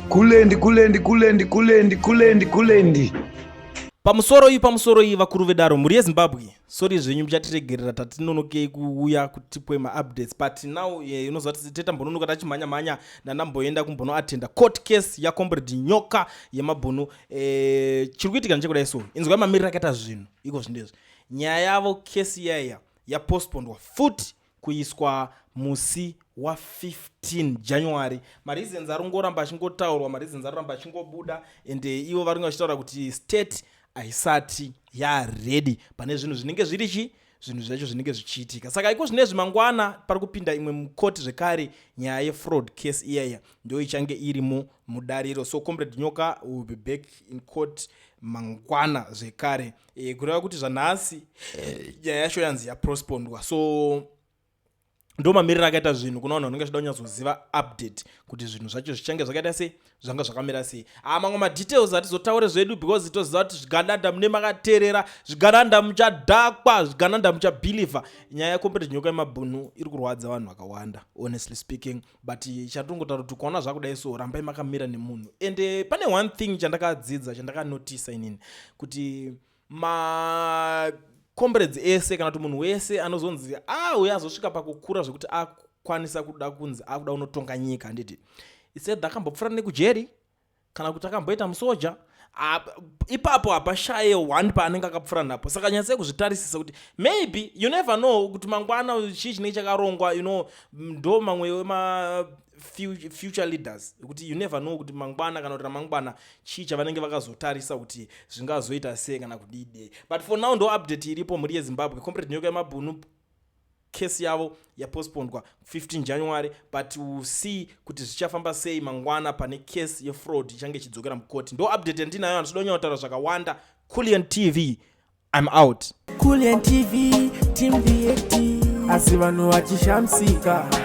kulendi kulendi kulendi kulendi kulendi kulendi pamusoro iyi pamusoro iyi vakuru vedaro mhuri yezimbabwe sori zvenyu muchatiregerera tatinonokei kuuya kutipwe maupdates but now eh, inoziva yeah, tetambononoka tachimhanya mhanya ndanamboenda kumbonoatenda court case yacombrade nyoka yemabhunu eh, chiri kuitika nechekudai so inzwai mamiriro akaita zvinhu iko zvindezvi nyaya yavo kesi yaiya yapostpondwa futi kuiswa musi wa15 january mareasons ari kungoramba achingotaurwa mareasons ari kuramba achingobuda and eh, ivo vari kunge vachitaura kuti state haisati yaready pane zvinhu zvinenge zviri chii zvinhu zvacho zvinenge zvichiitika saka iko zvine zvimangwana pari kupinda imwe mukoti zvekare nyaya yefraud case iyaya ndo ichange irimo mudariro so comrade nyoka will be back in court mangwana zvekare e, kureva kuti zvanhasi eh, nyaya yacho yanzi yaprospondwa so ndo mamiriro akaita zvinhu kuna vanhu vanenge vachida kunyatsoziva update kuti zvinhu zvacho zvichange zvakaita sei zvanga zvakamira sei a ah, mamwe madetails hatizotaure zvedu because toziva kuti zvigananda mune makateerera zvigananda muchadhakwa zvigananda muchabhilivha nyaya yecompetence nyoka yemabhunu iri kurwadza vanhu vakawanda honestly speaking but chatongotaura kuti ukaona zvakudai so rambai makamira nemunhu and eh, pane one thing chandakadzidza chandakanotisa inini kuti ma combrades ese kana kuti munhu wese anozonzi ah uye azosvika pakukura zvekuti akwanisa kuda kunzi akuda unotonga nyika handiti isaid akambopfura nekujeri kana kuti akamboita musoja ipapo hapashaye one paanenge akapfura napo saka nyatsai kuzvitarisisa kuti maybe you never know kuti mangwana chii chinenge chakarongwa you know ndo mamwe wema future leaders kuti you never know kuti mangwana kana kuti ramangwana chii chavanenge vakazotarisa kuti zvingazoita sei kana kudide but for now ndo update iripo mhuri yezimbabwe comrade nyoka yemabhunu case yavo yapostpondwa 15 january but will see kuti zvichafamba sei mangwana pane case yefraud ichange ichidzokera mukoti ndo update yandinayo andichida kunyanya kutaura zvakawanda culian tv im out culian tv team vat asi vanhu vachishamsika